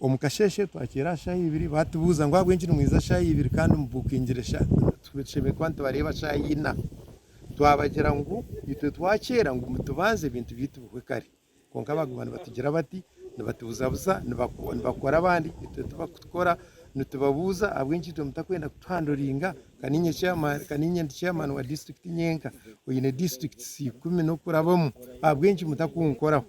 Omu kasheeshe twakiire aha shaaha ibiri baatubuuza ngu ahabw'enki nimwija shaaha ibiri kandi mubukingire tushemereire kuba nitubareeba shaaha ina. Twabagira ngu itwe twakiira ngu tubanze ebintu byaitu bihwe kare kwonka baaguma nibatugira bati nibatubuzabuza nibakora abandi itwe tibarikukora. Nitubabuuza ahabw'enki itwe mutakwenda kutuhanduringa ka niinye ndi chairman wa disiturikiti nyenka oine disiturikiti ikumi n'okurabamu ahabw'enki mutakunkoraho?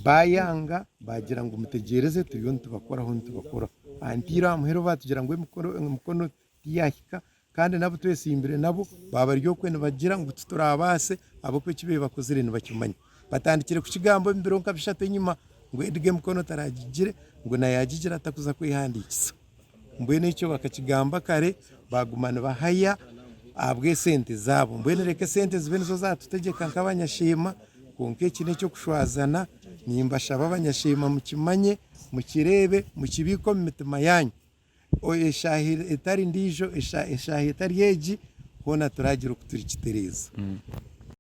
Baayanga, baagira ngu, Mutegyereze, turiyo nitubakoraho, nitubakoraho. Aha ntiiro aha muheru baatugira ngu emikono tiyaahika, kandi n'abu twetsimbire nabo baaba bari okwe nibagira ngu tituraabaase ahabw'okuba eki babaire bakozire nibakimanya. Baatandikire kukigamba omu biro nka bishatu enyima ngu Edgar emikono taraagigire, ngu naayagigira atakuza kwehandiikisa. Mbwenu ekyo bakakigamba kare baguma nibahaya ahabw'esente zaabo. Mbwenu reka esente zibe nizo zatutegyeka nk'abanyasheema kwonka eki n'eky'okushwazana. Nimbashaba abanyasheema mukimanye, mukireebe, mukibiike omu mitima yaanyu. Eshaaha etari ndiijo, eshaaha etari egi hoona turaagira oku turikitereeza.